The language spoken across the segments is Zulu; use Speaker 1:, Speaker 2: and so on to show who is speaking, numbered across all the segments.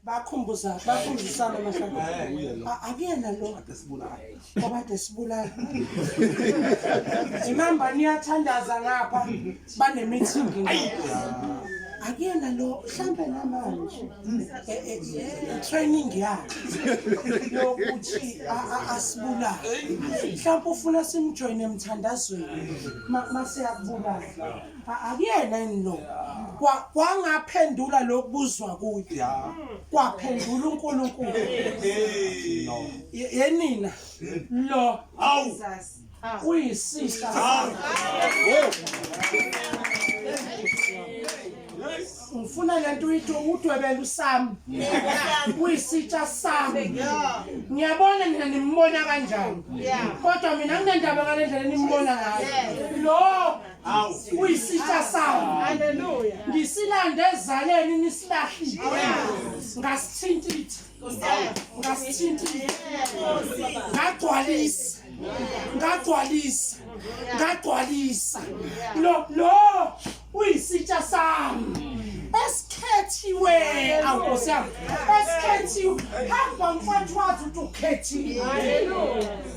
Speaker 1: bakhumbuza bakhumbuzisana mahlamba akuyena lo obade sibulala imamba niyathandaza ngapha banemithingi akuyena lo mhlampe namanje e, e, e, training yakhe yokuthi asibulale mhlawumbe ufuna simjoyine emthandazweni masiyakubulala akuyena yini lo Kwa- kwangaphendula lokubuzwa kuyo Yeah. kwaphendula unkulunkulu Hey. Ye- yenina lo Awu. Jesus. uyisihla Awu. ngifuna lento uyithi udwebela usami uyisitsha sami ngiyabona nina nimbona kanjani kodwa mina nginendaba ngale ndlela nimbona ngayo lo uyisitsha sami haleluya ngisilande ezaleni nisilahlile ngasithintitha ngasithintitha ngagcwalisa ngagcwalisa ngagcwalisa lo lo uyisitsha sami esikhethiwe awukosi yami esikhethiwe hamba mfowethu wazi ukuthi ukhethiwe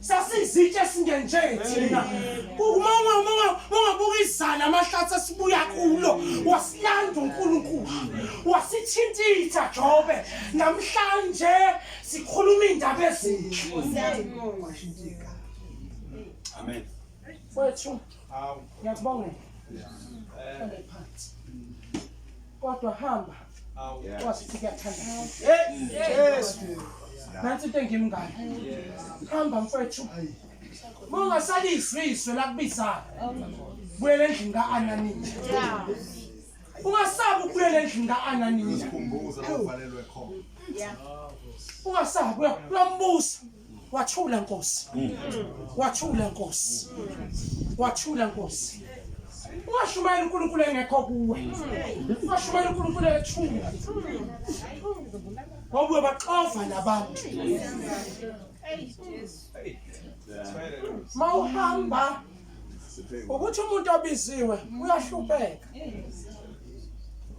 Speaker 1: sasizitshe esingenje thina uma ungabuka izala amahlathi esibuya kulo wasilanda unkulunkulu wasithintitha jobe namhlanje sikhuluma iy'ndaba ezinhle amen wethu ngiyakubongela kodwa hamba Wasithi kuyathanda. Yes. Nansi into engimngane. Hamba mfethu. Ungasalisi izwe lakubizayo. Buyela endlini ka-Ananiya. Ungasabi ukubuyela endlini ka-Ananiya.
Speaker 2: Ungasabi
Speaker 1: uya- uyambusa. Wathula Nkosi. Wathula Nkosi. Wathula Nkosi. Ungashumayela uNkulunkulu engekho kuwe. Ungashumayela uNkulunkulu ethula. Ngoba uyobaxova labantu. Mawuhamba ukuthi umuntu obiziwe uyahlupheka.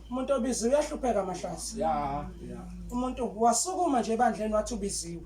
Speaker 1: Umuntu obiziwe uyahlupheka mahlasi. Yeah. Umuntu wasukuma nje ebandleni wathi ubiziwe.